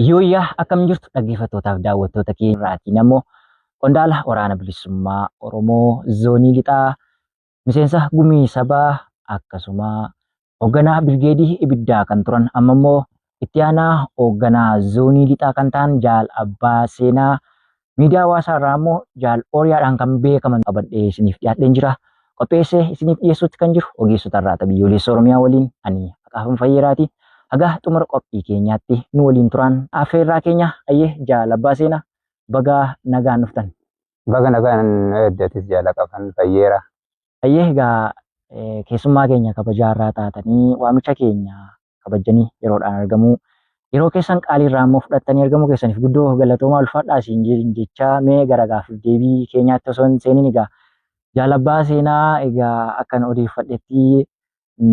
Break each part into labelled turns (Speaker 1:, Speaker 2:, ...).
Speaker 1: Yooyyaa akkam jirtu dhaggeeffattootaaf daawwattoota keenyaatiin ammoo qondaala waraana bilisummaa Oromoo zoonii lixaa miseensa gumii sabaa akkasuma hoogganaa birgeedii ibiddaa kan turan amma immoo itti aanaa hoogganaa zoonii lixaa kan ta'an jaal abbaa seenaa Miidiyaa hawaasaa irraa ammoo jaal Ooriyaadhaan kan beekaman qabadhee isiniif dhiyaadheen jira. Qopheessee isiniif dhiyeessuutti kan jiru ogeessota irraata biyyoolessa Oromiyaa waliin ani Aqaafan Fayyeeraati. Hagaa xumura qophii keenyaatti nu waliin turaan affeerraa keenya ayyee jaal abbaa seenaa bagaa nagaan dhuftan. Baga nagaan
Speaker 2: eeddatis jaal Aqaafan Fayyeera. Ayyee egaa
Speaker 1: keessummaa keenya kabajaa irraa taatanii waamicha keenya kabajjanii yeroodhaan argamuu yeroo keessan qaalii irraa immoo fudhattanii argamuu keessaniif guddoo galatoomaa ulfaadhaa isin jedhin jechaa mee gara gaaffiif deebii keenyaatti osoo hin seeniin egaa jaalabbaa seenaa egaa akkan odeeffadhetti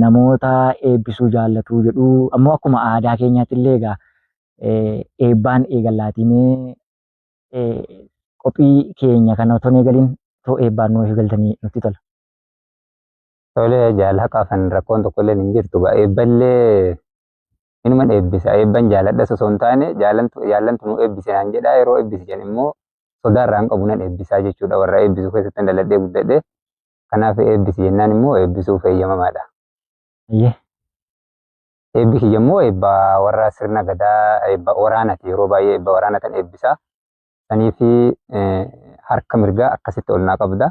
Speaker 1: namoota eebbisuu jaallatuu jedhu ammoo akkuma aadaa keenyaatti illee egaa eh, eebbaan eegallaatii mee eh, qophii keenya kana otoo hin eegaliin otoo eebbaan nu eegaltanii nutti tola.
Speaker 2: Tolee jaal haqaa kan rakkoon tokko illee hin jirtu gaa eebballee inuman eebbisa eebban jaaladhas osoo hin taane jaalantu jaallantu nu eebbise naan jedhaa yeroo eebbise jedhan immoo sodaa irraa hin qabu nan eebbisaa jechuudha warra eebbisu keessatti hin dhaladhee guddadhe kanaaf eebbisi jennaan immoo eebbisuu fayyamamaadha. Ayyee. Eebbi kiyya immoo eebba warra sirna gadaa eebba waraanati yeroo baay'ee eebba waraana tan eebbisa saniifi harka mirgaa akkasitti ol naa qabda.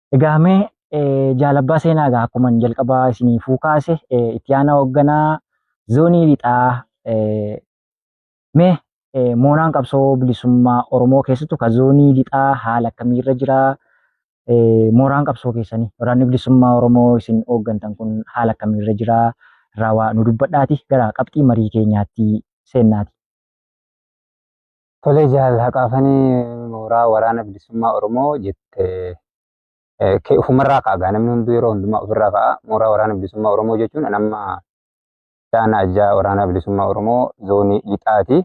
Speaker 1: Egaa mee jaalabbaa seenaa egaa akkuma jalqabaa isiniifuu kaase itti aanaa hoogganaa zoonii lixaa mee moonaan qabsoo bilisummaa Oromoo keessattuu ka zoonii lixaa haala akkamiirra jira mooraan qabsoo keessanii waraanni bilisummaa Oromoo isin hooggantan kun haala akkamiirra jira irraa waa nu dubbadhaati gara qabxii marii keenyaatti seennaati.
Speaker 2: Tolee jaal haqaafanii mooraa waraana bilisummaa Oromoo jette kee ufumarraa ka'a gaa namni hunduu yeroo hundumaa ofirraa ka'a mooraa waraana bilisummaa Oromoo jechuun an amma daana ajjaa waraana bilisummaa Oromoo zoonii lixaati.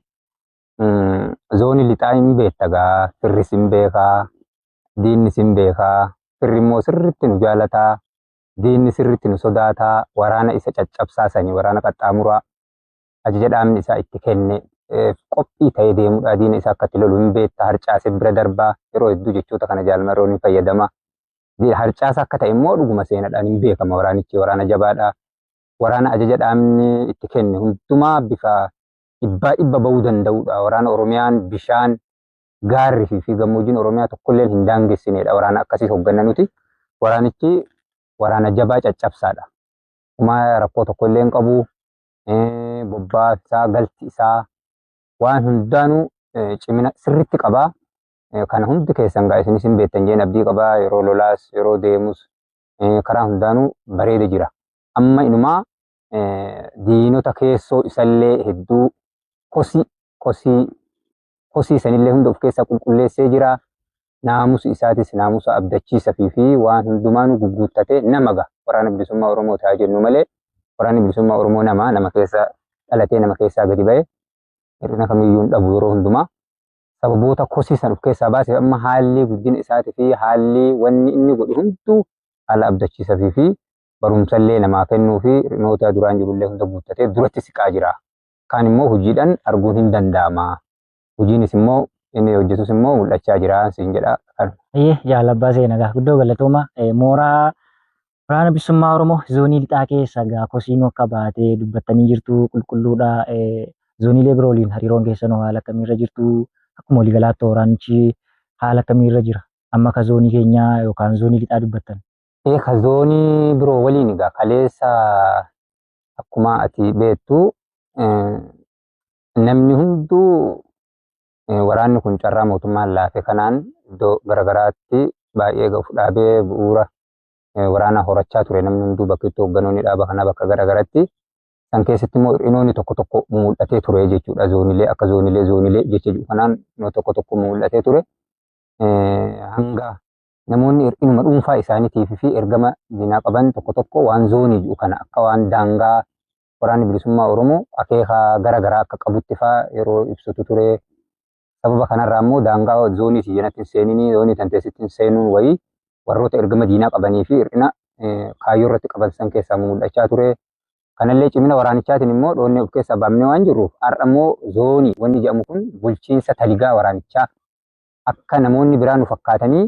Speaker 2: Zoonii lixaa hin beekta gaa firri sin beekaa diinni sin beekaa firri immoo sirriitti nu jaalataa diinni sirriitti nu sodaataa waraana isa caccabsaa sanii waraana qaxxaamuraa ajaja dhaabni isaa itti kenne qophii ta'ee deemudha. Diina isaa akkatti lolu hin beekta harcaase bira darbaa yeroo hedduu jechoota kana jaalmaroo ni fayyadama. Harcaasa akka ta'e immoo dhuguma seenadhaan hin beekama waraanichi waraana jabaadha. Waraana ajaja dhaabni itti kenne hundumaa bifa dhibbaa dhibba ba'uu danda'udha. Waraana Oromiyaan bishaan gaarri fi gammoojjiin Oromiyaa tokkolleen hin daangessinedha. Waraana akkasii hoogganna nuti. Waraanichi waraana jabaa caccabsaadha. Umaa rakkoo tokkollee hin qabu. bobbaa isaa, galti isaa waan hundaanuu cimina sirriitti qaba. Kana hundi keessan gaa isinis hin beektan jeen abdii qaba. Yeroo lolaas, yeroo deemus karaa hundaanuu bareeda jira. Amma inumaa diinota keessoo isallee hedduu kosii kosii kosii sanillee hunda of keessaa qulqulleessee jira. Naamusi isaatis naamusa abdachiisafii fi waan hundumaanuu gugguuttatee nama ga waraana bilisummaa Oromoo ta'a jennu malee waraanni bilisummaa Oromoo nama nama keessa dhalatee nama keessaa gadi ba'e hir'ina kamiyyuu hin dhabu yeroo hundumaa. Sababoota kosii san of keessaa baaseef amma haalli guddina isaatii fi haalli wanni inni godhu hunduu haala abdachiisafii fi barumsallee namaa kennuu fi hir'inoota duraan jirullee hunda guuttatee duratti siqaa jira. kaan immoo hojiidhaan arguun hin danda'ama. Hojiinis immoo inni hojjetus immoo mul'achaa jira siin jedha. Ayyee jaalabbaa
Speaker 1: seenaa gaa guddoo galatooma Eh, mooraa waraana bilisummaa Oromoo zoonii lixaa keessa gaa kosiinuu akka baatee dubbattanii jirtu qulqulluudha. Eh, Zooniilee biroo waliin hariiroon keessanoo haala akkamiirra jirtu akkuma waliigalaatti waraanichi haala akkamiirra jira amma akka zoonii keenyaa yookaan zoonii lixaa dubbattan. Eeka
Speaker 2: zoonii biroo waliin egaa kaleessa akkuma ati beektu namni hunduu waraanni kun carraa mootummaan laafe kanaan iddoo garaagaraatti baay'ee gahuuf dhaabee bu'uura waraanaa horachaa ture namni hunduu bakka itti hoogganoonni dhaaba kanaa bakka garaagaraatti san keessatti immoo hir'inoonni tokko tokko mul'atee ture jechuudha zoonilee akka zoonilee zoonilee jecha jiru kanaan tokko tokko mul'atee ture hanga namoonni hir'inuma dhuunfaa isaaniitiif fi ergama diinaa qaban tokko tokko waan zoonii jiru kana akka waan daangaa waraanni bilisummaa Oromoo akeeka gara garaa akka qabutti faa yeroo ibsutu ture. Sababa kanarraa immoo daangaa zoonii siyyanatti hin seeninii zoonii tanteessitti hin seenuun wayii warroota ergama diinaa qabanii fi hir'ina kaayyoo irratti qaban san keessaa mul'achaa ture. Kanallee cimina waraanichaatiin immoo dhoonnee of keessaa baafnee waan jirruuf har'a immoo zoonii wanni jedhamu kun bulchiinsa taligaa waraanichaa akka namoonni biraa nu fakkaatanii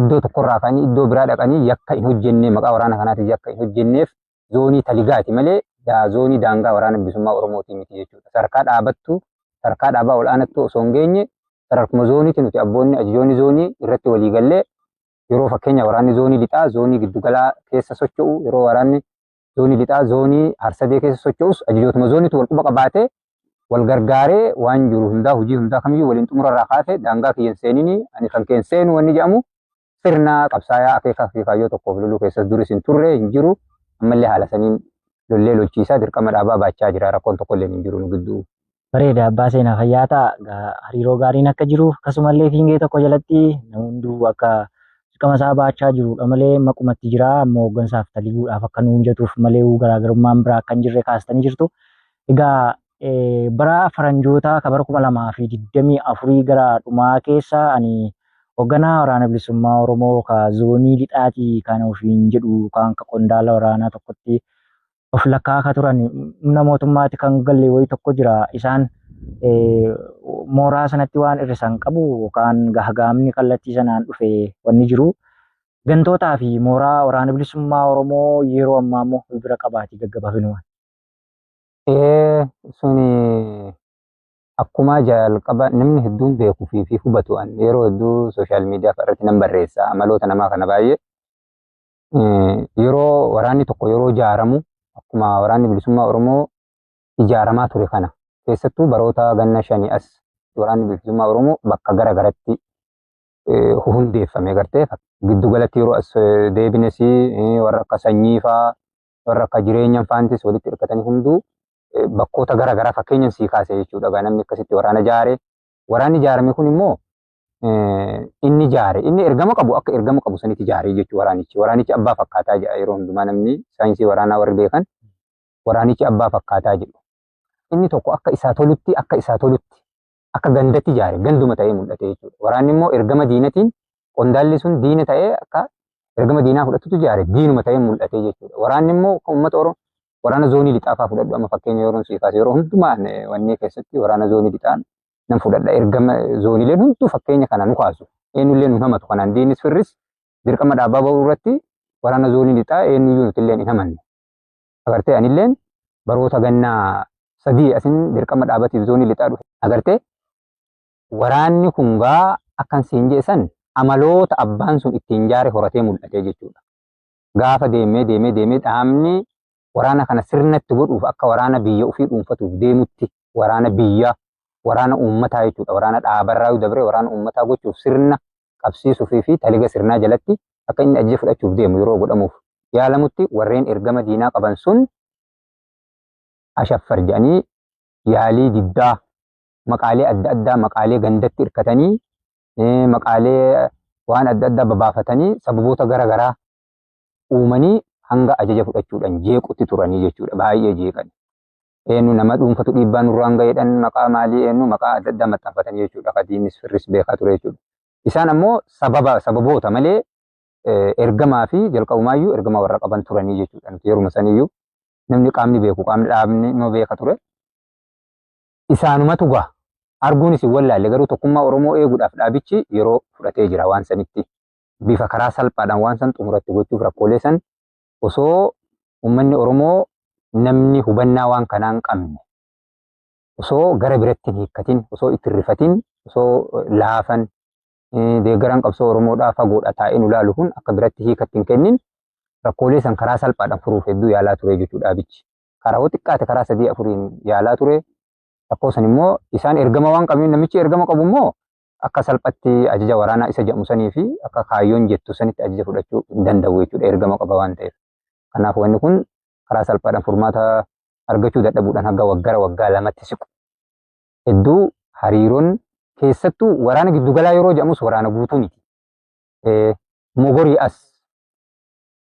Speaker 2: iddoo tokkorraa ka'anii iddoo biraa dhaqanii yakka hin hojjennee maqaa waraana kanaatiin yakka hin hojjenneef zoonii taligaati malee daa- zoonii daangaa waraana bilisummaa Oromootii miti jechuudha. Sadarkaa dhaabattu sadarkaa dhaabaa ol'aanattuu osoo hin geenye sadarkuma zooniitti nuti abboonni ajajoonni zoonii irratti walii gallee yeroo fakkeenya waraanni zoonii lixaa zoonii giddugalaa keessa socho'u yeroo waraanni zoonii lixaa zoonii harsadee keessa socho'us ajajootuma zooniitu wal quba qabaatee wal gargaaree waan jiru hundaa hojii hundaa kamiyyuu waliin xumura irraa kaasee daangaa kiyyan seeninii ani kan keen seenu wanni jedhamu sirna qabsaayaa akeekaa fi kaayyoo tokkoof loluu keessas duris hin turre hin jiru ammallee haala saniin lollee lolchiisaa dirqama dhaabaa baachaa jira rakkoon tokkollee hin jiru nu gidduu. Bareeda abbaa
Speaker 1: seenaa fayyaa ta'a. Ga- Hariiroo gaariin akka jiru akkasumallee fiingee tokko jalatti namni hunduu akka dirqama isaa baachaa jirudha malee maqumatti jira ammoo hooggansaaf taliguudhaaf akka nu mijatuuf malee uu garaagarummaan biraa akka hin jirre kaastanii jirtu. Egaa eh, bara faranjootaa ka bara kuma lamaa fi digdamii afurii gara dhumaa keessa ani hoogganaa waraana bilisummaa Oromoo ka zoonii lixaatii kan ofiin jedhu kaan ka qondaala waraanaa tokkotti of lakkaa ka turan humna mootummaatti kan galle wayii tokko jira isaan mooraa sanatti waan hir'isan qabu yookaan gahagaamni kallattii sanaan dhufe wanni jiru gantootaa fi mooraa waraana bilisummaa Oromoo yeroo ammaa immoo bira qabaati gaggababinuma. Ee
Speaker 2: suni akkuma jalqaba namni hedduun beekuu fi fi hubatu an yeroo hedduu sooshaal miidiyaa irratti nan barreessa amaloota namaa kana baay'ee yeroo waraanni tokko yeroo ijaaramu akkuma waraanni bilisummaa Oromoo ijaaramaa ture kana keessattuu baroota ganna shanii as waraanni bilisummaa Oromoo bakka gara garatti hundeeffame gartee giddu galatti yeroo as deebines warra akka sanyii faa warra akka jireenyaan faantis walitti hirkatanii hunduu bakkoota gara garaa fakkeenyaan sii kaase jechuudha. Egaa namni akkasitti waraana ijaare waraanni ijaarame kun immoo inni ijaare inni ergama qabu akka ergama qabu sanitti ijaare jechuudha waraanichi. Waraanichi abbaa fakkaataa jedha yeroo hundumaa namni saayinsii waraanaa warri beekan waraanichi abbaa fakkaataa jedhu. Inni tokko akka isaa tolutti akka isaa tolutti akka gandatti ijaare ganduma ta'ee mul'ate jechuudha. Waraanni immoo ergama diinatiin qondaalli sun diina ta'ee akka ergama diinaa fudhatutu ijaare diinuma ta'ee mul'ate jechuudha. Waraanni immoo kan uummata Oromoo waraana zoonii lixaafaa fudhadhu amma fakkeenya yeroo siif kaase yeroo hundumaa wanni keessatti waraana zoonii lixaan nan fudhadha. Ergama zoonileen hunduu fakkeenya kana nu kaasu. Eenyullee nu hamatu kanaan diinis firris dirqama dhaabaa ba'uu irratti waraana zoonii lixaa eenyuyyuu nutillee hin hamanne. Agartee anilleen baroota gannaa sadii asin dirqama dhaabatiif zoonii lixaa dhufe. Agartee waraanni kun gaa akkan siin jeesan amaloota abbaan sun ittiin jaare horatee mul'atee jechuudha. Gaafa deemee deemee deemee dhaabni waraana kana sirna itti godhuuf akka waraana biyya ofii dhuunfatuuf deemutti waraana biyyaa waraana uummataa jechuudha. Waraana dhaabarraa dabree waraana uummataa gochuuf sirna qabsiisuufii fi taliga sirnaa jalatti akka inni ajaja fudhachuuf deemu yeroo godhamuuf yaalamutti warreen ergama diinaa qaban sun ashaffar jedhanii yaalii diddaa maqaalee adda addaa maqaalee gandatti hirkatanii maqaalee waan adda addaa babaafatanii sababoota gara garaa uumanii hanga ajaja fudhachuudhaan jeequtti turanii jechuudha. Baay'ee jeeqani. Eenyu nama dhuunfatu dhiibbaa nurraan ga'eedhaan maqaa maalii eenyu maqaa adda addaa maxxanfatanii jechuudha. Akka diinnis firris beekaa ture jechuudha. Isaan ammoo sababa sababoota malee ergamaa fi jalqabumaayyuu ergama warra qaban turanii jechuudha. Nuti yeruma saniyyuu namni qaamni beeku qaamni dhaabni nu beeka ture. Isaanumatu gaha. Arguunis hin wallaalle garuu tokkummaa Oromoo eeguudhaaf dhaabichi yeroo fudhatee jira waan sanitti. bifa karaa salphaadhaan waan san xumuratti gochuuf rakkoolee san osoo uummanni Oromoo namni hubannaa waan kanaa hin qabne osoo gara biratti hin hiikkatin osoo itti rifatin osoo laafan deeggaraan qabsoo Oromoodhaa fagoodha taa'ee nu laalu kun akka biratti hiikatti hin kennin rakkoolee san karaa salphaadhaan furuuf hedduu yaalaa ture jechuudha dhaabichi. Karaa hoo xiqqaate karaa sadii afuriin yaalaa ture rakkoo san immoo isaan ergama waan qabaniif namichi ergama qabu immoo akka salphatti ajaja waraanaa isa jedhamu sanii fi akka kaayyoon jettu sanitti ajaja fudhachuu hin danda'u jechuudha ergama qaba waan ta'eef. Kanaaf wanni kun karaa salphaadhaan furmaata argachuu dadhabuudhaan hanga waggara waggaa lamatti siqu. Hedduu hariiroon keessattuu waraana giddugalaa yeroo jedhamus waraana guutuu miti. Mogorii as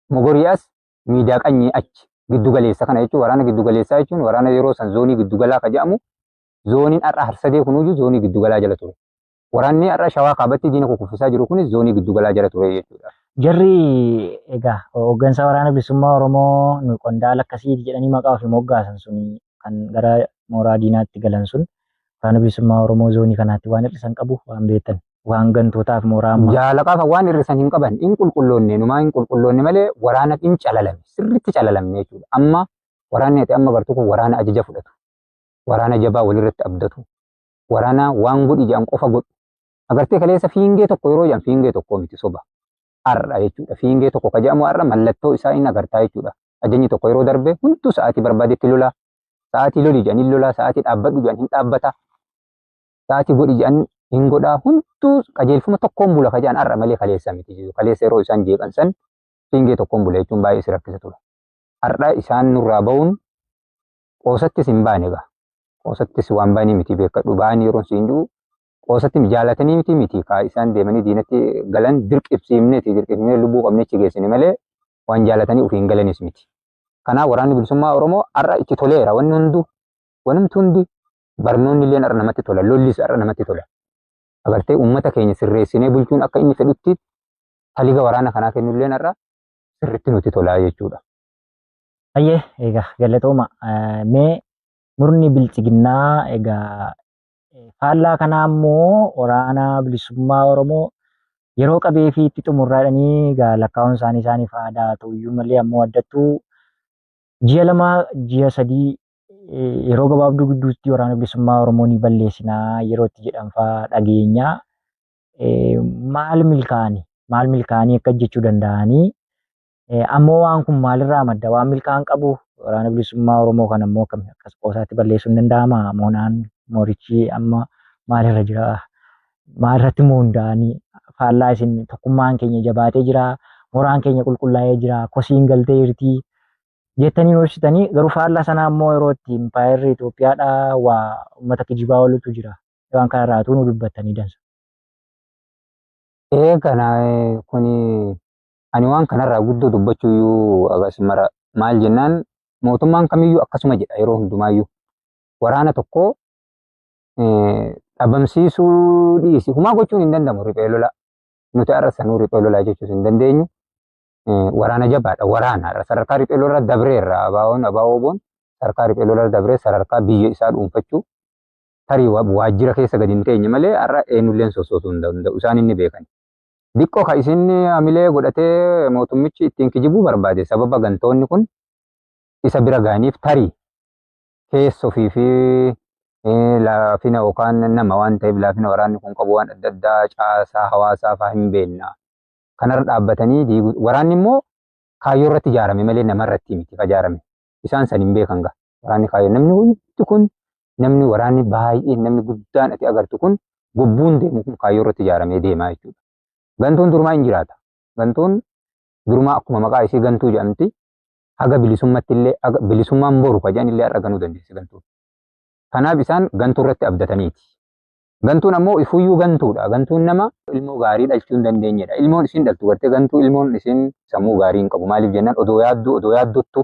Speaker 2: mogorii as miidaa qanyii achi giddugaleessa kana jechuun waraana giddugaleessaa jechuun waraana yeroo san zoonii giddugalaa ka jedhamu Zooniin har'a Harsadee kunuyyuu zoonii giddugalaa jala ture. Waraanni har'a Shawaa Kaabatti diina kukuffisaa jiru kunis zoonii giddugalaa jala ture jechuudha. Jarri
Speaker 1: egaa hooggansa waraana bilisummaa Oromoo nu qondaala akkasiiti jedhanii maqaa ofii moggaasan sun kan gara mooraa diinaatti galan sun waraana bilisummaa Oromoo zoonii kanaatti waan hir'isan qabu waan beektan waan gantootaaf mooraa ammaa. Jaalaqaafa waan hir'isan
Speaker 2: hin qaban hin qulqulloonne numaa hin qulqulloonne malee waraana hin calalame sirriitti calalamne jechuudha. Amma waraanni ati amma bartu kun waraana ajaja fudhatu. waraana jabaa walirratti abdatu. Waraana waan godhi jedhan qofa godhu. Agartee kaleessa fiingee tokko yeroo jedhan fiingee tokko miti soba. Har'a jechuudha. Fiingee tokko ka jedhamu har'a mallattoo isaa inni agartaa jechuudha. Ajajni tokko yeroo darbe hunduu sa'aatii barbaadetti lolaa. Sa'aatii loli jedhan hin lolaa. Sa'aatii dhaabbadhu jedhan hin dhaabbata. Sa'aatii godhi jedhan hin godhaa. Hunduu qajeelfama tokkoon bula ka jedhan har'a malee kaleessa miti jechuudha. Kaleessa yeroo isaan jeeqan san fiingee tokkoon bula jechuun baay'ee si rakkisa ture. Har'a isaan nurraa ba'uun qoosattis hin baane gaa. Qoosattis waan baanii miti beekadhu baanii yeroo siin jiru qoosatti jaalatanii miti miti kaa isaan deemanii diinatti galan dirqibsiimneeti dirqibsiimnee lubbuu qabnee achi geessine malee waan jaalatanii ofiin galanis miti. Kanaa waraanni bilisummaa Oromoo har'a itti toleera wanni hundu wanumti hundi barnoonni illee har'a namatti tola lollis har'a namatti tola. Agartee uummata keenya sirreessinee bulchuun akka inni fedhutti taliga waraana kanaa kennu illee har'a sirritti nutti tola jechuudha. Hayyee
Speaker 1: egaa galatooma mee murni bilchiginnaa egaa faallaa kanaa immoo waraanaa bilisummaa Oromoo yeroo qabee fi itti xumurraadhanii egaa lakkaa'uun isaanii isaaniif aadaa ta'uyyuu malee ammoo addattuu ji'a lamaa ji'a sadii yeroo gabaabduu gidduutti waraana bilisummaa Oromoo ni balleessinaa yeroo itti jedhan faa dhageenyaa maal milkaa'ani maal milkaa'anii akka jechuu danda'anii Ammoo waan kun maalirraa madda? Waan milkaa'an qabu waraana bilisummaa Oromoo kana immoo akkamitti akkas qoosaatti balleessuun danda'ama? Moonaan moorichi amma maalirra jira? Maalirratti immoo hundaa'anii faallaa isin tokkummaan keenya jabaatee jira? Mooraan keenya qulqullaa'ee jira? Kosiin galtee jirti? Jettanii nu ibsitanii garuu faallaa sanaa immoo yeroo itti impaayerri Itoophiyaadhaa waa uummata kijibaa oolutu jira. Waan kanarraa utuu nu dubbattanii dansa. Ee
Speaker 2: kana kuni Ani waan kanarraa guddoo dubbachuuyyuu agas mara maal jennaan mootummaan kamiyyuu akkasuma jedha yeroo hundumaayyuu. Waraana tokko eh, dhabamsiisuu dhiisi. Humaa gochuun hin danda'amu riphee lolaa. Nuti har'a sanuu riphee lolaa jechuus hin dandeenyu. Eh, Waraana jabaadha. Waraana har'a sadarkaa riphee lolaa dabreerra. Abaawoon abaawooboon sadarkaa riphee lolaa dabree sadarkaa biyya isaa dhuunfachuu tarii wa- waajjira keessa gadi hin teenye malee har'a eenyulleen sosoosuu hin danda'u. Isaan inni beekan. diqqo ka isin amilee godhatee mootummichi ittiin kijibuu barbaade sababa gantoonni kun isa bira gahaniif tarii keessa ofii fi laafina yookaan nama waan ta'eef laafina waraanni kun qabu waan adda addaa caasaa hawaasaa fa'aa hin beekna. Kanarra dhaabbatanii diiguu waraanni immoo kaayyoo irratti ijaarame malee nama irratti miti ka ijaarame. isaan san hin beekan gaa waraanni kaayoo namni hundi kun namni waraanni baay'een namni guddaan ati agartu kun gobbuun deemu kun kaayoo irratti ijaaramee deemaa jechuudha. Gantuun durumaa hin jiraata. Gantuun durumaa akkuma maqaa isii gantuu jedhamti haga bilisummatti illee haga bilisummaan boru ka jedhan illee har'a ganuu dandeessi gantuun. Kanaaf isaan gantuu irratti abdataniiti. Gantuun ammoo ifuyyuu gantuudha. Gantuun nama ilmoo gaarii dhalchuu hin dandeenyedha. Ilmoon isin dhaltu gartee gantuu ilmoon isin sammuu gaarii hin qabu. Maaliif jennaan odoo yaadduu odoo yaaddottu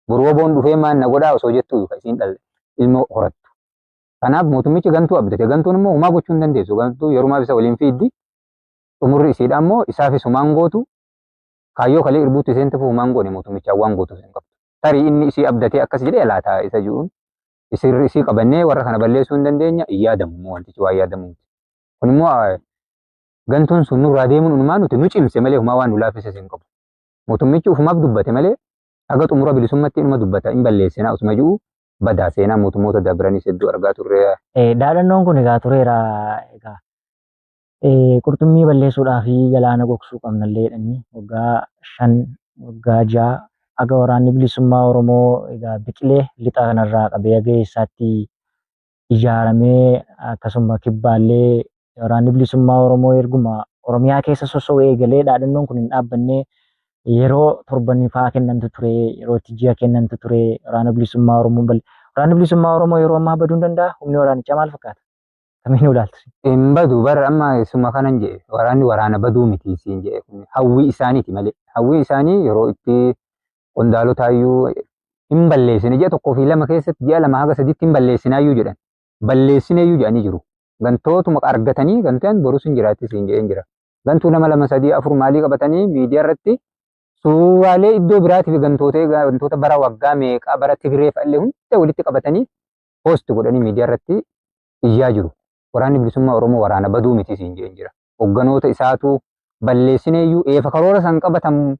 Speaker 2: borooboon dhufee maal na godhaa osoo jettuu kan isin dhal ilmoo horattu. Kanaaf mootummichi gantuu abdate. Gantuun immoo homaa gochuu hin dandeessu. Gantuu yerumaaf isa waliin fiiddi. Xumurri isiidha immoo isaafis homaan gootu. Kaayyoo kalee irbuutti iseen tufu homaan goone mootummichaan waan gootu hin qabdu. Tarii inni isii abdatee akkas jedhee laataa isa ji'uun isirri isii qabannee warra kana balleessuu hin dandeenya hin yaadamu immoo wantichi waan yaadamu miti. Kun immoo gantuun sun nurraa deemuun unumaa nuti nu cimse malee humaa waan nu laaffisas hin qabu. Mootummichi ufumaaf dubbate malee haga xumura bilisummatti inuma dubbata hin balleessinaa osuma ji'u badaa seenaa mootummoota dabraniis hedduu argaa turre. Dhaadannoon kun
Speaker 1: egaa tureera egaa qurxummii balleessuudhaa fi galaana gogsuu qabnallee jedhanii waggaa shan waggaa ja'a aga waraanni bilisummaa Oromoo egaa biqilee lixa kanarraa qabee aga eessaatti ijaaramee akkasuma kibbaallee waraanni bilisummaa Oromoo erguma Oromiyaa keessa soso'u eegalee dhaadannoon kun hin dhaabbannee yeroo torbanii fa'aa kennantu ture yeroo itti ji'a kennantu ture waraana bilisummaa Oromoo bal waraanni bilisummaa Oromoo yeroo ammaa baduu hin danda'a humni waraanichaa maal fakkaata? Kamiin ulaaltu. Hin badu bar
Speaker 2: amma suma kanan jedhe waraanni waraana baduu miti siin jedhe kun hawwii isaaniiti malee hawwii isaanii yeroo itti qondaalotaayyuu hin balleessine ji'a tokkoo fi lama keessatti ji'a lama haga sadiitti hin balleessinaayyuu jedhan balleessineeyyuu jedhanii jiru gantootuma argatanii gantaan borus hin jiraatti siin jedheen jira gantuu nama lama sadii afur maalii qabatanii miidiyaa irratti suuraalee iddoo biraatiif gantoota gantoota bara waggaa meeqaa bara tigireef illee hunda walitti qabatanii post godhanii miidiyaa irratti iyyaa jiru. Waraanni bilisummaa Oromoo waraana baduu miti siin jeen jira. Hogganoota isaatu balleessineeyyuu eefa karoora san qabatan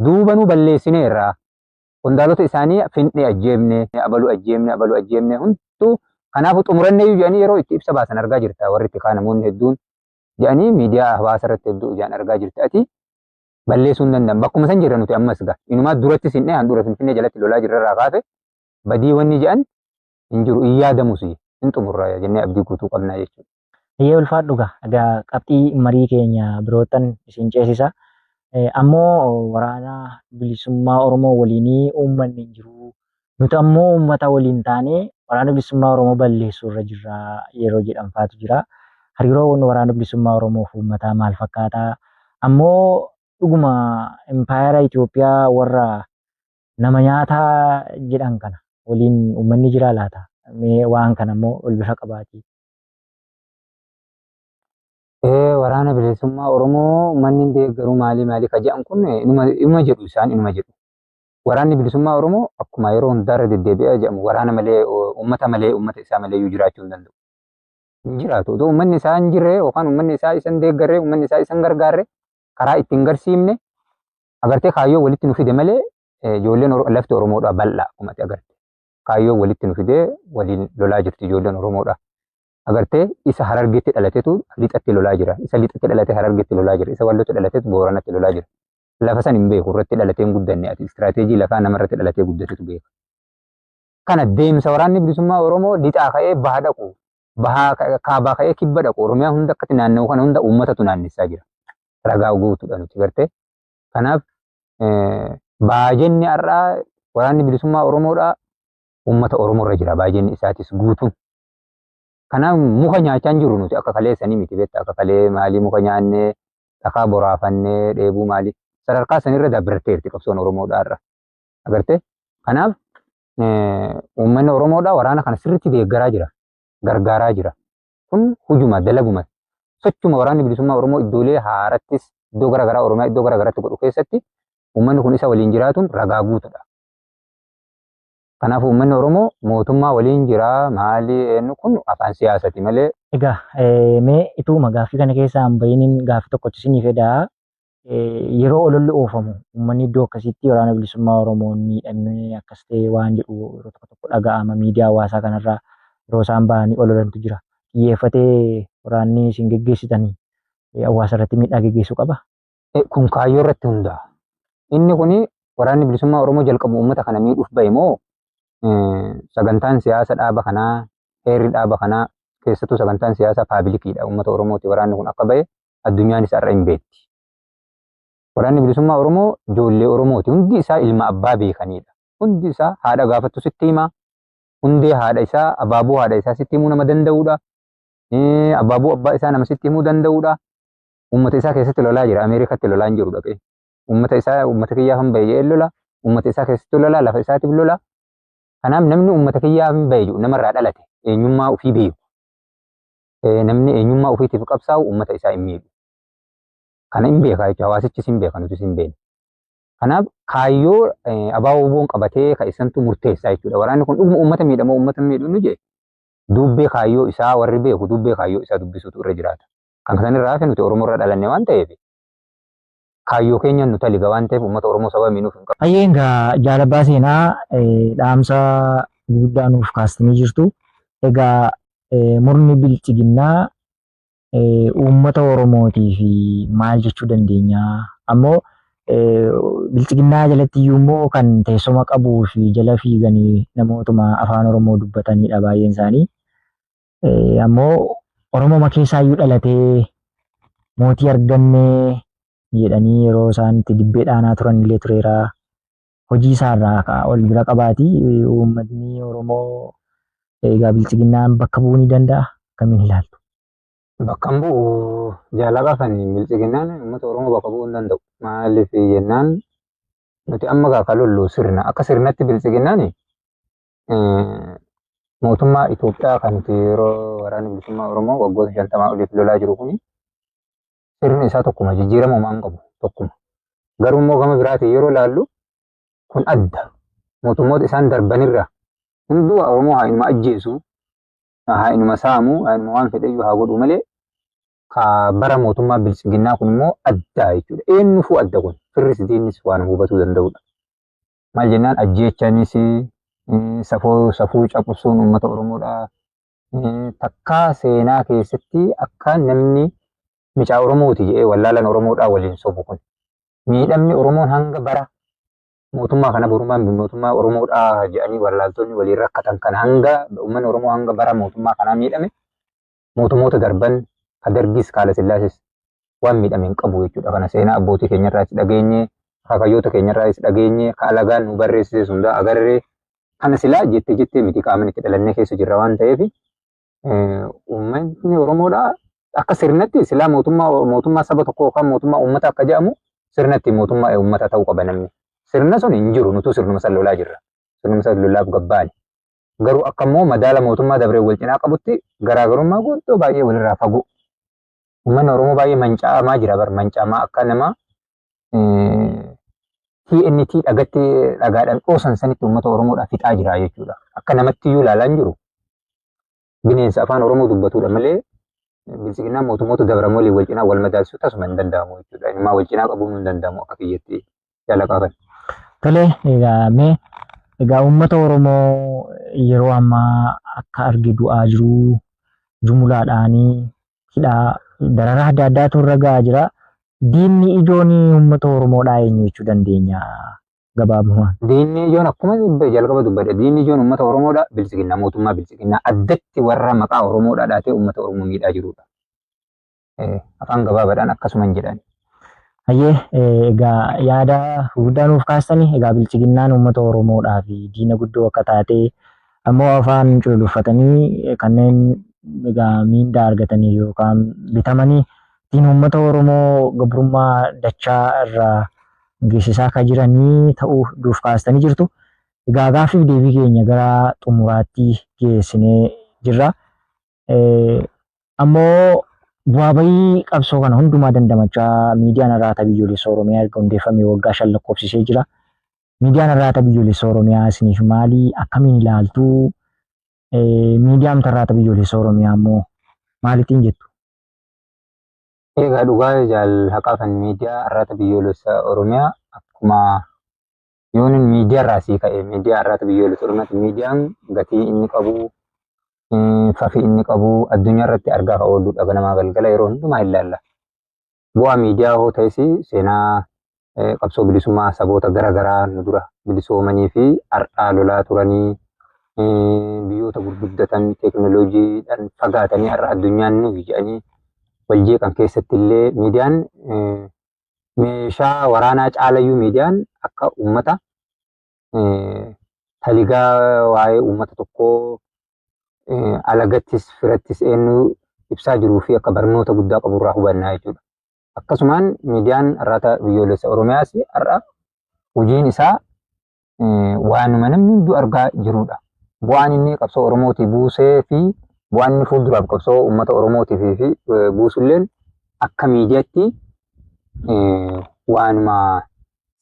Speaker 2: duubanuu balleessineerra. Qondaalota isaanii fin'ee ajjeemne, abaluu ajjeemne, abaluu ajjeemne hunduu kanaafuu xumuranneeyyuu jedhanii yeroo itti ibsa baasan argaa jirta warri itti kaa namoonni hedduun jedhanii miidiyaa hawaasa irratti hedduu ijaan argaa jirta ati balleessuu hin danda'an. Bakkuma san jirra nuti ammas ga. Inumaa duratti sin'ee handhuura finfinnee jalatti lolaa jirra irraa kaafe badii wanni jedhan hin jiru hin yaadamus hin xumurra jennee abdii guutuu qabnaa jechuudha. Hayyee ulfaadhu gaa
Speaker 1: egaa qabxii marii keenya biroottan isin ceesisa. Eh, Ammoo waraana bilisummaa Oromoo waliinii uummanni hin jiru. Nuti ammoo uummata waliin taanee waraana bilisummaa Oromoo balleessuu irra jirra yeroo jedhan faatu jira. Hariiroon waraana bilisummaa Oromoo fi uummataa maal fakkaata? Ammoo dhuguma impaayera Itoophiyaa warra nama nyaataa jedhan kana waliin uummanni jiraa laata? Mee waan kana immoo ol bira qabaati.
Speaker 2: Ee waraana bilisummaa Oromoo manni deeggaru maalii maalii ka jedhan kun inuma inuma jedhu isaan inuma jedhu. Waraanni bilisummaa Oromoo akkuma yeroo hundaarra deddeebi'ee jedhamu waraana malee o- uummata malee uummata isaa malee iyyuu jiraachuu hin danda'u. Hin jiraatu. Otoo uummanni isaa hin jirre yookaan uummanni isaa isa hin deeggarre uummanni isaa isa hin gargaarre karaa itti hin garsiifne Agartee kaayyoo walitti nu fide malee eh, ijoolleen Oro- lafti Oromoodhaa bal'aa akkuma ati agarte. Kaayyoo walitti nu fidee waliin lolaa jirti ijoolleen Oromoodhaa. Agartee isa harargeetti dhalatetu lixatti lolaa jira. Isa lixatti dhalate harargeetti lolaa jira. Isa wallootti dhalatetu booranatti lolaa jira. Lafa san hin beeku irratti dhalatee hin guddanne ati istiraateejii lafaa nama irratti dhalatee guddatetu beeka. Kana deemsa waraanni bilisummaa Oromoo lixaa ka'ee baha dhaqu bahaa ka- kaabaa ka'ee kibba dhaqu Oromiyaa hunda akkatti naanna'u kana hunda uummatatu naannessaa jira. Ragaa guutuudha nuti gartee. Kanaaf eh, baajenni har'aa waraanni bilisummaa Oromoodhaa uummata Oromoorra jira baajenni isaatis guutuun. Kanaaf muka nyaachaa hin jiru nuti akka kalee sanii miti beektaa akka kalee maalii muka nyaannee dhakaa boraafannee dheebuu maalii sadarkaa sanirra dabbarteerti qabsoon Oromoodhaa har'a. Agartee? Kanaaf uummanni Oromoodhaa waraana kana sirriitti deeggaraa jira. Gargaaraa jira. Kun hujuma dalaguma sochuma waraanni bilisummaa Oromoo iddoolee haarattis iddoo garaagaraa Oromiyaa iddoo garaagaraatti godhu keessatti uummanni kun isa waliin jiraatuun ragaa guutudha. Kanaaf uummanni Oromoo mootummaa waliin jiraa maali eenyu kun afaan siyaasati malee. Egaa
Speaker 1: mee ituuma gaaffii kana keessaa hin bahiniin gaaffii tokkochi isiniif edaa yeroo ololli oofamu uummanni iddoo akkasiitti waraana bilisummaa Oromoon miidhamee akkas ta'e waan jedhu yeroo tokko tokko dhaga'ama miidiyaa hawaasaa kanarraa yeroo isaan bahanii ololantu jira. Xiyyeeffatee waraanni isin geggeessitanii hawaasa irratti miidhaa geggeessuu qaba. Kun kaayyoo
Speaker 2: irratti hundaa'a. Inni kun waraanni bilisummaa Oromoo jalqabu uummata kana miidhuuf bahe moo sagantaan siyaasa dhaaba kanaa heerri dhaaba kanaa keessattuu sagantaan siyaasaa paabilikiidha uummata Oromooti waraanni kun akka bahe addunyaanis har'a hin beekti. Waraanni bilisummaa Oromoo ijoollee Oromooti. Hundi isaa ilma abbaa beekaniidha. Hundi isaa haadha gaafattu sitti himaa. Hundee haadha isaa, abaaboo haadha isaa sitti himuu nama danda'uudha. Eh, Abaaboo abbaa isaa nama sitti himuu danda'uudha. Uummata isaa keessatti lolaa jira. Ameerikaatti lolaa hin jiru dhaqee. Uummata isaa uummata kiyyaa hin bahe jedhee lola. Uummata isaa keessatti lola, lafa isaatiif lola. Kanaaf namni uummata kiyyaa hin bahe jedhu namarraa dhalate eenyummaa ofii beeku. eh, namni eenyummaa ofiitiif qabsaa'u uummata isaa hin miidhu. Kana hin beekaa jechuudha. Hawaasichis hin beeka, nutis hin beekna. Kanaaf kaayyoo eh, abaaboo boon qabatee kan isantu murteessaa jechuudha. Waraanni kun dhuguma uummata miidhamoo uummata hin miidhu inni jee duubbee kaayyoo isaa warri beeku duubbee kaayyoo isaa dubbisuutu irra jiraata. Kan kasan irraa hafe nuti Oromoo irra dhalanne waan ta'eef kaayyoo keenya nu taliga waan ta'eef uummata Oromoo sababa miinuuf hin qabu. Hayyee egaa jaalabbaa
Speaker 1: seenaa dhaamsa gurguddaa nuuf kaastanii jirtu. Egaa murni bilchiginnaa uummata Oromootii fi maal jechuu dandeenya? Ammoo bilchiginnaa jalatti iyyuu immoo kan teessuma qabuu fi jala fiiganii namootuma afaan Oromoo dubbatanidha baay'een isaanii. Eh, ammoo Oromoma keessaayyuu dhalatee mootii argannee jedhanii yeroo isaan itti dibbee dhaanaa turan illee tureera. Hojii isaarraa ka- ol bira qabaati. Eh, Uummatni Oromoo egaa bilchiginnaan bakka bu'uu ni danda'a. Akkamiin ilaaltu? Bakka hin
Speaker 2: bu'u jaalaa baafanii bilchiginnaan uummata Oromoo bakka bu'uu hin danda'u. Maaliif jennaan nuti amma gaa kan lollu sirna. Akka sirnatti bilchiginnaan mootummaa Itoophiyaa kan nuti yeroo waraana bilisummaa Oromoo waggoota shantamaa oliif lolaa jiru kun sirni isaa tokkuma jijjiirama homaa hin qabu tokkuma. Garuu immoo gama biraatiin yeroo ilaallu kun adda mootummoota isaan darbanirraa hunduu Oromoo haa inuma ajjeesu haa inuma saamu haa inuma waan fedhayyuu haa godhu malee ka bara mootummaa bilisiginnaa kun immoo addaa jechuudha. Eenyufuu adda kun firris diinnis waan hubatuu danda'udha. Maal jennaan ajjeechaanis safuu safuu cabsuun uummata Oromoodhaa takkaa seenaa keessatti akka namni micaa Oromooti jedhee wallaalan Oromoodhaa waliin sobu kun. Miidhamni Oromoon hanga bara mootummaa kana borumaan mootummaa Oromoodhaa jedhanii wallaaltonni waliin rakkatan kan hanga uummanni Oromoo hanga bara mootummaa kanaa miidhame mootumoota darban ka dargiis ka Halasillaasis waan miidhame hin qabu jechuudha. Kana seenaa abbootii keenyarraas dhageenye, kakayyoota keenyarraas dhageenye, ka alagaan nu barreessise hundaa agarre. Kana silaa jettee jettee miti qaamin itti dhalannee keessa jirra waan ta'eef uummanni Oromoodhaa akka sirnatti silaa mootummaa mootummaa saba tokkoo yookaan mootummaa uummata akka jedhamu sirnatti mootummaa uummata ta'uu qaba namni. Sirna sun hin jiru nutuu sirnuma san lolaa jirra. Sirnuma san lolaaf gabbaani. Garuu akka immoo madaala mootummaa dabreen wal cinaa qabutti garaagarummaa guddoo baay'ee walirraa fagoo. Uummanni Oromoo baay'ee manca'amaa jira bar manca'amaa akka nama TNT dhagatti dhagaadhaan dhoosan sanitti uummata Oromoodhaa fixaa jira jechuudha. Akka namatti iyyuu ilaalaa hin jiru. bineensa afaan Oromoo dubbatudha malee bilisiginnaan mootummoota dabran waliin wal cinaa wal madaalsisuu tasuma hin danda'amu jechuudha. Inummaa wal cinaa qabuun hin danda'amu akka kiyyatti jalaqaban. Tole
Speaker 1: egaa mee egaa uummata Oromoo yeroo ammaa akka arge du'aa jiru jumulaadhaanii hidhaa dararaa adda addaatu irra gahaa jira. Diinni ijoon uummata Oromoodhaa eenyu jechuu dandeenya? gabaabumaan. Diinni ijoon
Speaker 2: akkuma dubbe jalqaba dubbadhe diinni ijoon uummata Oromoodha bilisiginnaa mootummaa bilisiginnaa addatti warra maqaa Oromoodha dhaatee uummata Oromoo miidhaa jirudha. Afaan gabaabaadhaan akkasuma hin jedhan. Hayyee
Speaker 1: egaa yaada guddaa nuuf kaastani egaa bilisiginnaan uummata Oromoodhaa fi diina guddoo akka taatee ammoo afaan cululuuffatanii kanneen egaa miindaa argatanii yookaan bitamanii ittiin uummata Oromoo gabrummaa dachaa irraa geessisaa akka jiranii ta'uu duuf kaastanii jirtu. Egaa gaaffiif deebii keenya gara xumuraatti geessinee jirra. Ammoo bu'aa bayii qabsoo kana hundumaa dandamachaa miidiyaan arraata biyyoolessa Oromiyaa erga hundeeffamee waggaa shan lakkoofsisee jira. Miidiyaan arraata biyyoolessa Oromiyaa isiniif maali? Akkamiin ilaaltu? Miidiyaan arraata biyyoolessa Oromiyaa immoo maalittiin jettu?
Speaker 2: Eegaa dhugaa jaal haqaafan miidiyaa arraata biyyoolessa Oromiyaa akkuma yoonin miidiyaa irraa sii ka'e miidiyaa arraata biyyoolessa Oromiyaati miidiyaan gatii inni qabu fafi inni qabu addunyaa irratti argaa ka ooludha ganamaa galgala yeroo hundumaa hin laalla. Bu'aa miidiyaa hoo ta'es seenaa qabsoo bilisummaa saboota gara garaa nu dura bilisoomanii fi har'aa lolaa turanii biyyoota gurguddatan teeknooloojiidhaan fagaatanii har'a addunyaan nuuf jedhanii wal jeeqan keessatti illee miidiyaan meeshaa waraanaa caalayyuu miidiyaan akka uummata taligaa waa'ee uummata tokkoo alagattis firattis eenyu ibsaa jiruu fi akka barnoota guddaa qabu irraa hubannaa jechuudha. Akkasumaan miidiyaan Arraata Biyyoolessa Oromiyaas har'a hojiin isaa waanuma namni hunduu argaa jirudha. Bu'aan inni qabsoo Oromootii buusee fi bu'aan inni fuulduraaf qabsoo uummata Oromootiif fi buusulleen akka miidiyaatti waanuma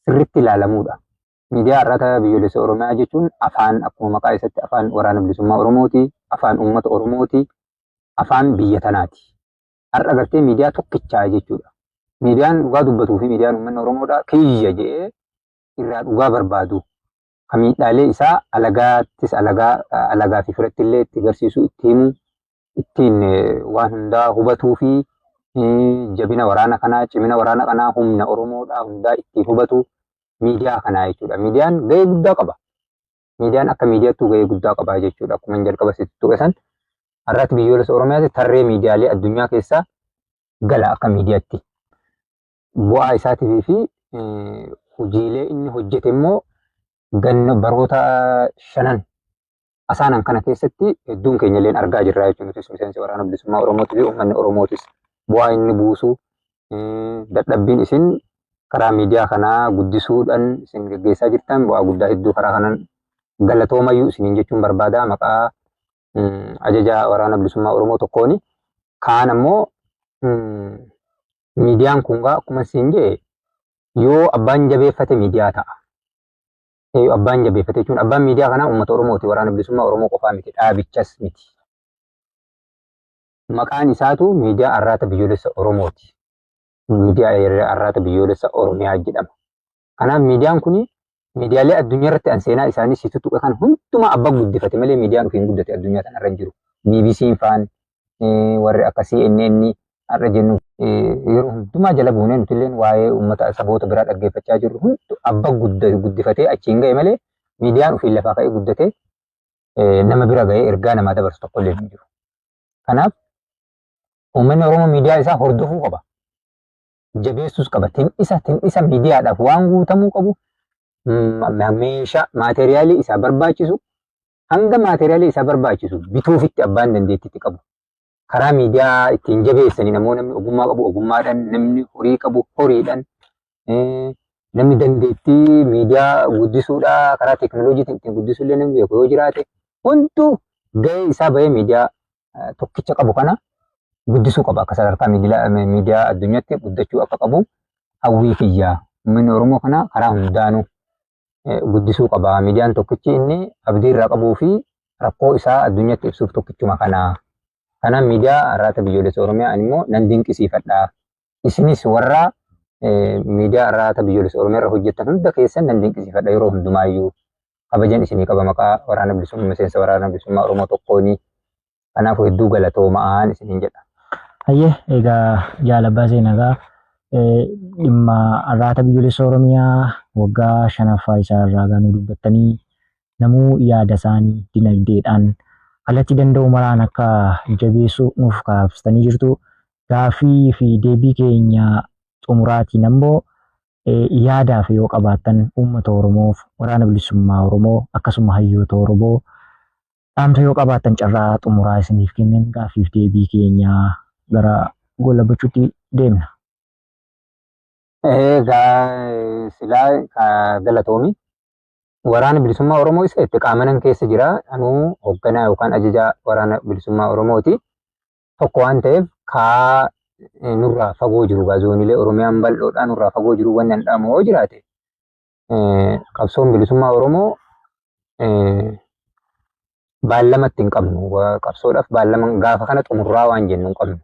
Speaker 2: sirriitti ilaalamudha. Miidiyaa Arraata Biyyoolessa Oromiyaa jechuun afaan akkuma maqaa isaatti afaan waraana bilisummaa Oromooti, afaan uummata Oromooti, afaan biyya tanaati. har'a gartee miidiyaa tokkichaa jechuudha. Miidiyaan dhugaa dubbatuu fi miidiyaan uummanni Oromoodhaa kiyya jedhee irraa dhugaa barbaadu kan miidhaalee isaa alagaattis alagaa alagaa fi firatti illee itti garsiisuu itti himu ittiin waan hundaa hubatuu fi jabina waraana kanaa cimina waraana kanaa humna Oromoodhaa hundaa ittiin hubatu miidiyaa kanaa jechuudha. Miidiyaan gahee guddaa qaba. miidiyaan akka miidiyaattuu gahee guddaa qaba jechuudha. Akkuma hin jalqaba sitti tuqe san har'aatti biyyoolessa Oromiyaatti tarree miidiyaalee addunyaa keessaa gala akka miidiyaatti. Bu'aa isaatiif fi hojiilee inni hojjete immoo ganna baroota shanan asaanan kana keessatti hedduun keenya illee argaa jirra jechuudha. Nutis miseensi waraana bilisummaa Oromootii fi uummanni Oromootis bu'aa inni buusu dadhabbiin isin karaa miidiyaa kanaa guddisuudhaan isin gaggeessaa jirtan bu'aa guddaa hedduu karaa kanaan galatoomayyuu isiniin jechuun barbaada maqaa ajaja waraana bilisummaa Oromoo tokkooni. Kaan ammoo miidiyaan kun gaa akkuma isin jee yoo abbaan jabeeffate miidiyaa ta'a. Yoo abbaan jabeeffate jechuun abbaan miidiyaa kanaa uummata Oromooti waraana bilisummaa Oromoo qofaa miti dhaabichas miti. Maqaan isaatu miidiyaa Arraata Biyyoolessa Oromooti. Miidiyaa Arraata Biyyoolessa Oromiyaa jedhama. Kanaaf miidiyaan kun miidiyaalee addunyaa irratti an seenaa isaanii si tutuqa kan hundumaa abbaa guddifate malee miidiyaan ofiin guddate addunyaa kana irra hin jiru. BBC'n faan warri akka CNN har'a jennu yeroo hundumaa jala buunee nuti illee waa'ee uummata saboota biraa dhaggeeffachaa jirru hundu abbaa guddifatee achiin ga'e malee miidiyaan ofiin lafaa ka'ee guddatee nama bira ga'ee ergaa namaa dabarsu tokko illee hin jiru. Kanaaf uummanni Oromoo miidiyaa isaa hordofuu qaba. Jabeessuus qaba. Tin'isa tin'isa miidiyaadhaaf waan guutamuu qabu meeshaa maateriyaalii isaa barbaachisu hanga maateriyaalii isaa barbaachisu bituufitti abbaan dandeettiitti qabu. karaa miidiyaa ittiin jabeessanii namoo namni ogummaa qabu ogummaadhaan namni horii qabu horiidhaan eh, namni dandeettii miidiyaa guddisuudhaa karaa teekinooloojiitiin ittiin guddisuu illee namni beeku yoo jiraate hunduu gahee isaa bahee miidiyaa eh, tokkicha qabu kana guddisuu qaba akka sadarkaa miidiyaa miidiyaa addunyaatti guddachuu akka qabu hawwii kiyyaa uummanni Oromoo kana karaa hundaanuu guddisuu qaba. Miidiyaan tokkichi inni abdii irraa qabuu fi rakkoo isaa addunyatti ibsuuf tokkichuma kana. Kanaaf miidiyaa Arraata Biyyoolessa Oromiyaa ani immoo nan dinqisiifadha. Isinis warra miidiyaa Arraata Biyyoolessa Oromiyaa irra hojjettan hunda keessan nan dinqisiifadha yeroo hundumaayyuu. Kabajan isinii qaba maqaa waraana bilisummaa miseensa waraana bilisummaa Oromoo tokkooni. Kanaafuu hedduu galatooma'aan isiniin jedha. Hayyee
Speaker 1: egaa jaal abbaa seenaa egaa eh, dhimma arraata biyyoolessa Oromiyaa waggaa shanaffaa isaa irraa egaa nu dubbattanii namuu yaada isaanii dinagdeedhaan kallattii danda'u maraan akka jabeessu nuuf kaafsitanii jirtu. Gaaffii fi deebii keenya xumuraatiin ammoo eh, yaadaaf yoo qabaattan uummata Oromoof waraana bilisummaa Oromoo akkasuma hayyoota Oromoo Dhaamsa yoo qabaattan carraa xumuraa isiniif kenneen gaaffiif deebii keenya gara goolabachuutti deemna. Eegaa
Speaker 2: silaa ka galatoomi. Waraana Bilisummaa Oromoo isa itti qaamanan keessa jira. Anuu hoogganaa yookaan ajajaa Waraana Bilisummaa Oromooti. Tokko waan ta'eef kaa nurraa fagoo jiru gaa zooniilee Oromiyaan bal'oodhaa nurraa fagoo jiru wanni an dhaamu yoo jiraate qabsoon bilisummaa Oromoo baallamatti hin qabnu. Qabsoodhaaf baallama gaafa kana xumurraa waan jennu hin qabnu.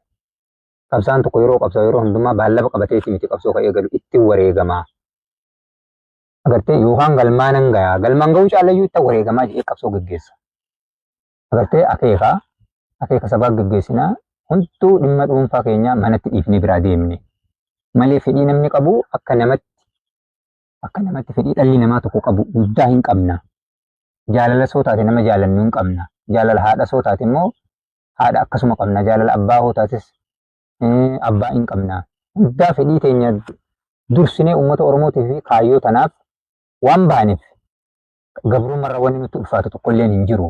Speaker 2: Qabsaan tokko yeroo qabsoo yeroo hundumaa baallama qabateeti miti qabsoo kan eegalu itti wareegamaa. Agartee yookaan galmaan hin gayaa. Galmaan ga'uu caalayyuu itti wareegamaa jedhee qabsoo gaggeessa. Agartee akeeka akeeka sabaa gaggeessinaa hunduu dhimma dhuunfaa keenyaa manatti dhiifnee biraa deemne. Malee fedhii namni qabu akka namatti Akka namatti fedhii dhalli namaa tokko qabu guddaa hin qabna. Jaalala soo taate nama jaalannu hin qabna. Jaalala haadha soo taate immoo haadha akkasuma qabna. Jaalala abbaa hoo taates eh, abbaa hin qabna. Guddaa fedhii teenya dursinee uummata Oromootii fi kaayyoo tanaaf waan baaneef gabrummarra wanni nutti ulfaatu tokkolleen hin jiru.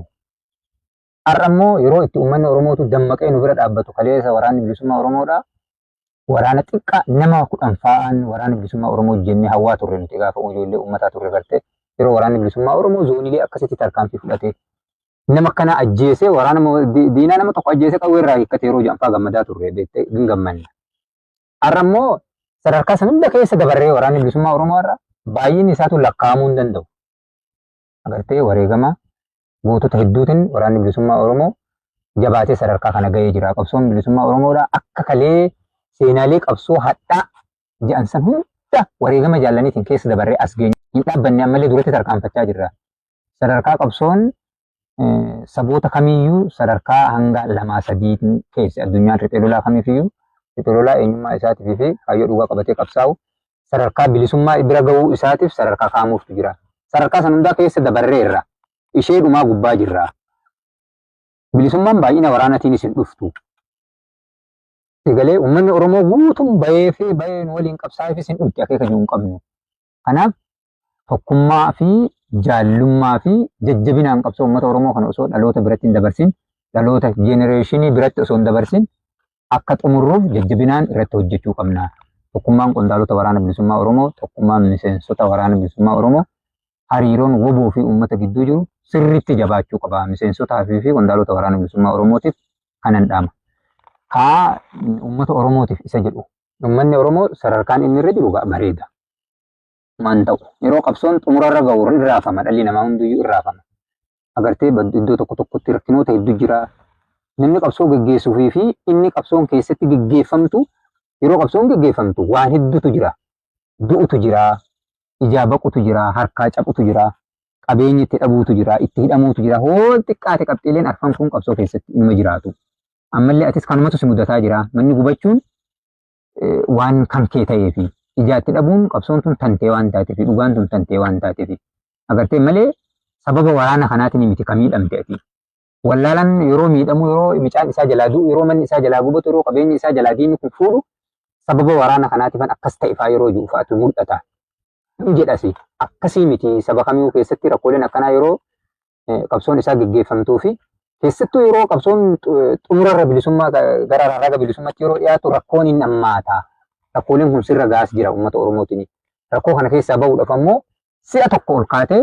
Speaker 2: Har'a immoo yeroo itti uummanni Oromootu dammaqee nu bira dhaabbatu kaleessa waraanni bilisummaa Oromoodha. waraana xiqqaa nama kudhan fa'aan waraana bilisummaa Oromoo jennee hawwaa turre nuti gaafa ijoollee uummataa turre garte yeroo waraanni bilisummaa Oromoo zoonilee akkasitti tarkaanfii fudhate nama kana ajjeesee waraana mo- di- diinaa nama tokko ajjeesee qawwee irraa hiikkate yeroo jedhanfaa gammadaa turre beektee hin gammanne. Har'a immoo sadarkaa san hunda keessa dabarree waraanni bilisummaa Oromoo har'a baay'inni isaatu lakkaa'amuu hin danda'u. Agartee wareegama gootota hedduutiin waraanni bilisummaa Oromoo jabaatee sadarkaa kana ga'ee jira. Qabsoon bilisummaa Oromoodhaa akka kalee seenaalee qabsoo hadhaa jedhan san hunda wareegama jaallaniitiin keessa dabarree as geenye. Hin dhaabbanne ammallee duratti tarkaanfachaa jirra. Sadarkaa qabsoon saboota kamiyyuu sadarkaa hanga lamaa sadii keessa addunyaan riphee lolaa kamiifiyyuu riphee lolaa eenyummaa isaatiif fi kaayyoo dhugaa qabatee qabsaa'u sadarkaa bilisummaa bira gahuu isaatiif sadarkaa kaamuuftu jira. Sadarkaa san hundaa keessa dabarreerra. Ishee dhumaa gubbaa jirra. Bilisummaan baay'ina waraanatiinis hin dhuftu. Egalee uummanni Oromoo guutuun bahee fi bahee nu waliin qabsaa'eefis hin dhufti akeeka jiru hin qabnu. Kanaaf tokkummaa fi jaallummaa fi jajjabinaan qabsoo uummata Oromoo kana osoo dhaloota biratti hin dabarsin dhaloota jenereeshinii biratti osoo hin dabarsin akka xumurruuf jajjabinaan irratti hojjechuu qabna. Tokkummaan qondaalota waraana bilisummaa Oromoo, tokkummaan miseensota waraana bilisummaa Oromoo, hariiroon woboo fi uummata gidduu jiru sirriitti jabaachuu qaba. Miseensotaa fi fi qondaalota waraana bilisummaa Oromootiif kanan dhaama. Kaa uummata Oromootiif isa jedhu. Uummanni Oromoo sadarkaan inni irra jiru bareeda. maan ta'u. Yeroo qabsoon xumurarra ga'u hin raafama dhalli namaa hunduyyuu hin raafama. Agartee baddu iddoo tokko tokkotti rakkinoota hedduu jira. Namni qabsoo geggeessuufii fi inni qabsoon keessatti geggeeffamtu yeroo qabsoon geggeeffamtu waan hedduutu jira. Du'utu jira, ijaa baqutu jira, harkaa cabutu jira, qabeenya itti dhabuutu jira, itti hidhamuutu jira. Hool xiqqaate qabxiileen arfan kun qabsoo keessatti inuma jiraatu. Ammallee atis kanumatu si mudataa jira. Manni gubachuun waan kan kee ta'eef ijaatti dhabuun qabsoon tun tantee waan taateef dhugaan tun tantee waan taateef agartee malee sababa waraana kanaatiin miti kan miidhamte ati. Wallaalaan yeroo miidhamu yeroo mucaan isaa jalaa du'u yeroo manni isaa jalaa gubatu yeroo qabeenyi isaa jalaa diinni kun fuudhu sababa waraana kanaatiifan akkas ta'e faa yeroo jiru fa'atu mul'ata. Jedhasi akkasii miti saba kamiyuu keessatti rakkooleen akkanaa yeroo qabsoon isaa geggeeffamtuu fi keessattuu yeroo qabsoon xumurarra bilisummaa gara raga bilisummaatti yeroo dhiyaatu rakkoon hin ammaata. Rakkooleen kun sirra gaas jira uummata Oromootiin. Rakkoo kana keessaa bahuudhaaf ammoo si'a tokko ol kaatee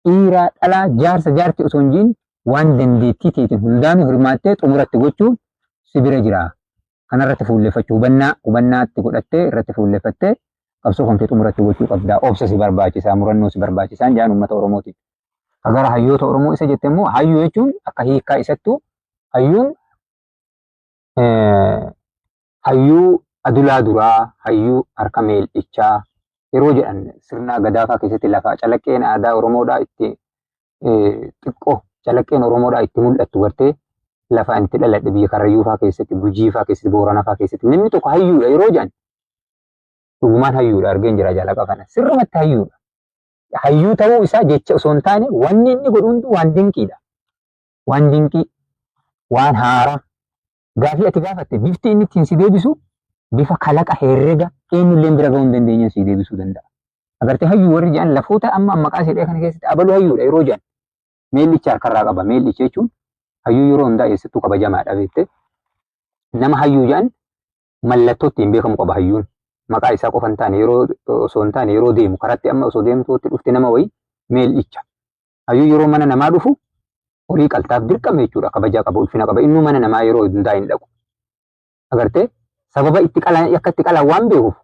Speaker 2: dhiiraa dhalaa jaarsa jaarti osoo hin jiin waan dandeettii teetiin hundaanuu hirmaattee xumuratti gochuun si bira jira. Kanarratti fuulleffachuu hubannaa hubannaatti godhattee irratti fuulleffattee qabsoo kan kee xumuratti gochuu qabda. Obsa si barbaachisaa murannoo si barbaachisaan jaan uummata Oromootiin. Gara hayyoota Oromoo isa jette immoo hayyuu jechuun akka hiikaa isattuu hayyuun hayyuu adulaa duraa, hayyuu harka meel'ichaa yeroo jedhan sirnaa gadaafaa keessatti lafaa calaqqeen aadaa Oromoodhaa itti xiqqoo calaqqeen Oromoodhaa itti mul'attu gartee lafa itti dhaladhe biyya Karrayyuufaa keessatti, Gujiifaa keessatti, Booranafaa keessatti namni tokko hayyuudha yeroo jedhan dhugumaan hayyuudha argeen jira jalaqa kana sirrumatti hayyuudha. hayyuu ta'uu isaa jecha osoo hin taane wanni inni godhu hunduu waan dinqiidha. Waan dinqii, waan haaraa. Gaafii ati gaafatte bifti inni ittiin si deebisu bifa kalaqa herrega eenyullee bira ga'uu hin dandeenye si deebisuu danda'a. Agartee hayyuu warri jedhan lafoota amma maqaa seedhee kana keessatti abaluu hayyuudha yeroo jedhan meellicha harkarraa qaba. Meellicha jechuun hayyuu yeroo hundaa eessattuu kabajamaadha beektee nama hayyuu jedhan mallattoo ittiin beekamu qaba hayyuun. Maqaa isaa qofa hin taane yeroo osoo hin taane yeroo deemu karatti amma osoo deemtuutti dhufte nama wayii meel'icha. Hayyuu yeroo mana namaa dhufu horii qaltaaf dirqama jechuudha kabajaa qaba ulfina qaba innuu mana namaa yeroo hundaa hin dhaqu. Agartee sababa itti qalaan akka itti qalaan waan beekuuf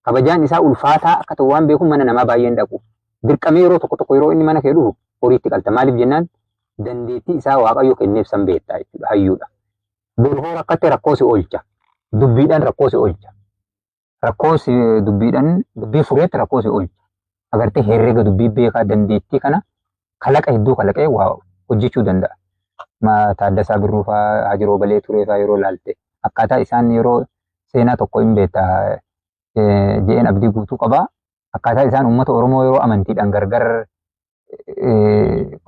Speaker 2: kabajaan isaa ulfaataa akka ta'u waan beekuuf mana namaa baay'ee hin dhaqu. Dirqamee yeroo tokko tokko yeroo inni mana kee dhufu horii itti qalta maaliif jennaan dandeettii isaa waaqayyo kenneef san beektaa jechuudha hayyuudha. Boru hoo rakkatte rakkoo si oolcha. Dubbiidhaan rakkoo si oolcha. Rakkoo si dubbiidhaan dubbii fureetti rakkoo si oolcha. Agartee herrega dubbii beekaa dandeettii kana kalaqa hedduu kalaqee waa hojjechuu danda'a. Ma Taaddasaa Birruu fa'aa Hajiroo Balee Turee fa'aa yeroo ilaalte akkaataa isaan yeroo seenaa tokko hin beekta je'een abdii guutuu qaba. Akkaataa isaan uummata Oromoo yeroo amantiidhaan gargar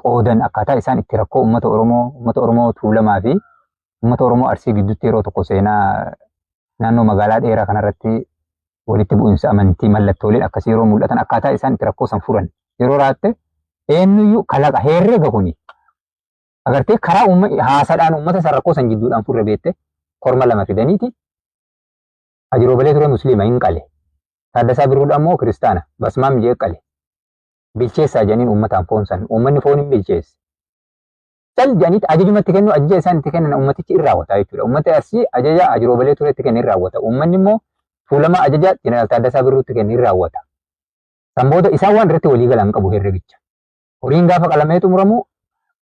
Speaker 2: qoodan akkaataa isaan itti rakkoo uummata Oromoo, uummata Oromoo Tuulamaa fi uummata Oromoo Arsii gidduutti yeroo tokko seenaa naannoo magaalaa dheeraa kanarratti walitti bu'iinsa amantii mallattooleen akkasii yeroo mul'atan akkaataa isaan itti rakkoo san furan yeroo raatte eenyuyyuu kalaqa herrega kuni. Agartee karaa haasadhaan uummata san rakkoo san jidduudhaan furre beette korma lama fidaniiti ajiroobalee ture musliima hin qale. Taaddasaa Birruudha immoo kiristaana basmaam jee qale. bilcheessaa jedhaniin uummataan foon san uummanni foon hin bilcheesse. Cal jedhaniitti ajajumatti kennu ajaja isaan itti kennan uummatichi irraa raawwata jechuudha. Uummati Arsii ajaja Ajiroobalee turetti kenne irraa raawwata. Uummanni immoo tuulama ajaja Jeneraal Taaddasaa Birruutti kenne irraa raawwata. San booda isaan waan irratti walii galan qabu herregicha. Horiin gaafa qalamee xumuramu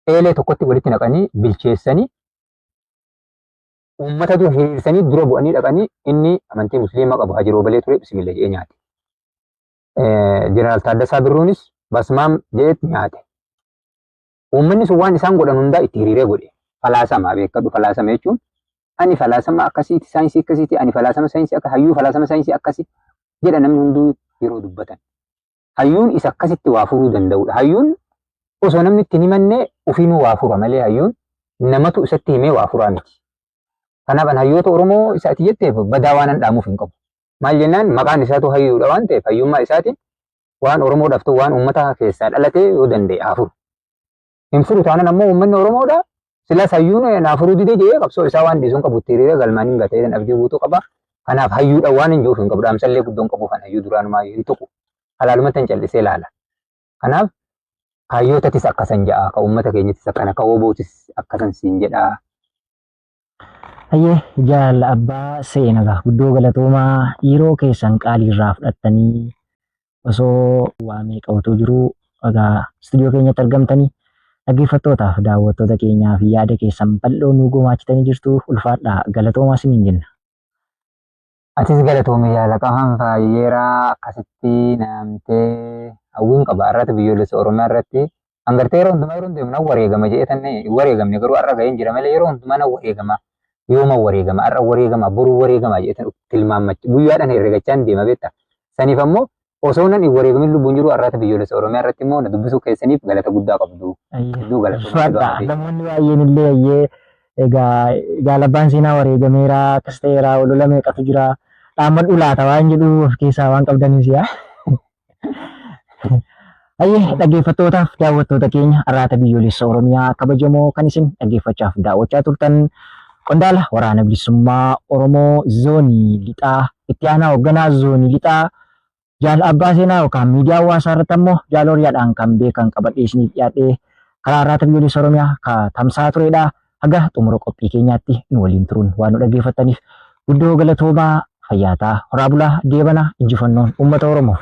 Speaker 2: eelee tokkotti walitti naqanii bilcheessanii uummata dura hiriirsanii dura bu'anii dhaqanii inni amantii musliimaa qabu Ajiroobalee ture bismillah jedhee nyaate. Jeneraal Taaddasaa Birruunis basmaam jedhetti nyaate. Uummanni sun waan isaan godhan hundaa itti hiriiree godhe. Falaasama beekadhu falaasama jechuun ani falaasama akkasiiti saayinsii akkasiiti ani falaasama saayinsii akka hayyuu falaasama saayinsii akkasi jedha namni hunduu yeroo dubbatan. Hayyuun isa akkasitti waa furuu danda'udha. Hayyuun osoo namni itti hin himanne ofiinuu waa fura malee hayyuun namatu isatti himee waa furaa miti. Kanaaf an hayyoota Oromoo isa ati jetteef badaa waan an dhaamuuf hin qabu. Maal jennaan maqaan isaatu hayyuudha waan ta'eef hayyummaa isaatiin waan Oromoo dhaftu waan uummata keessaa dhalatee yoo danda'e haa furu. Hin furu taanaan ammoo uummanni Oromoodha silas hayyuun naa furuu dide jedhee qabsoo isaa waan dhiisuun qabu itti hiriiree galmaan hin gatee kan abdii guutuu qaba. Kanaaf hayyuudha waan hin jiruuf hin qabu dhaamsallee guddoon qabu kan hayyuu duraanumaa hin tuqu. Halaalumatti hin callisee ilaala. Kanaaf hayyootatis akkasan ja'a ka uummata keenyattis akkana ka woobootis akkasan siin jedhaa.
Speaker 1: Hayyee jaal abbaa seena gaa guddoo galatoomaa yeroo keessan qaalii irraa fudhattanii osoo waa meeqa utuu jiruu egaa istuudiyoo keenyatti argamtanii dhaggeeffattootaaf daawwattoota keenyaa fi yaada keessan bal'oo nuu gumaachitanii jirtu ulfaadhaa galatoomaa isiniin jenna.
Speaker 2: Atis galatoomi jaala qamaan faayyeera akkasitti naamtee hawwiin qaba har'ata biyyoolessa oromiyaa irratti hangartee yeroo hundumaa yeroo hundumaa nan wareegama jedhee tanne hin wareegamne garuu har'a ga'een jira malee yeroo hundumaa nan wareegama yooma wareegama har'a wareegama boruu wareegama jedhee tan tilmaammachi guyyaadhaan herregachaan deema beekta saniif ammoo Osoo nan hin wareegamin lubbuun jiru arraata biyyoolessa Oromiyaa irratti immoo na dubbisuu keessaniif galata guddaa qabdu. Hedduu galatoomaa Ulfaadha. dhugaa malee.
Speaker 1: Namoonni baay'een illee eeyyee egaa egaa labbaan seenaa wareegameera akkas ta'eera olola meeqatu jira dhaammadhu laata waan jedhu of keessaa waan qabdaniis yaa. Hayyee dhaggeeffattootaaf daawwattoota keenya arraata biyyoolessa Oromiyaa kabajamoo kan isin dhaggeeffachaaf daawwachaa turtan qondaala waraana bilisummaa Oromoo zoonii lixaa itti aanaa hoogganaa zoonii lixaa jaal abbaa seenaa yookaan miidiyaa hawaasaa irratti ammoo jaal horiyaadhaan kan beekan qabadhee isiniif dhiyaadhee karaa arraata biyyoolessa Oromiyaa ka tamsa'aa turedha. haga xumura qophii keenyaatti nu waliin turuun waan nu dhageeffattaniif guddoo galatoomaa fayyaataa horaa bulaa deebana injifannoon uummata Oromoof.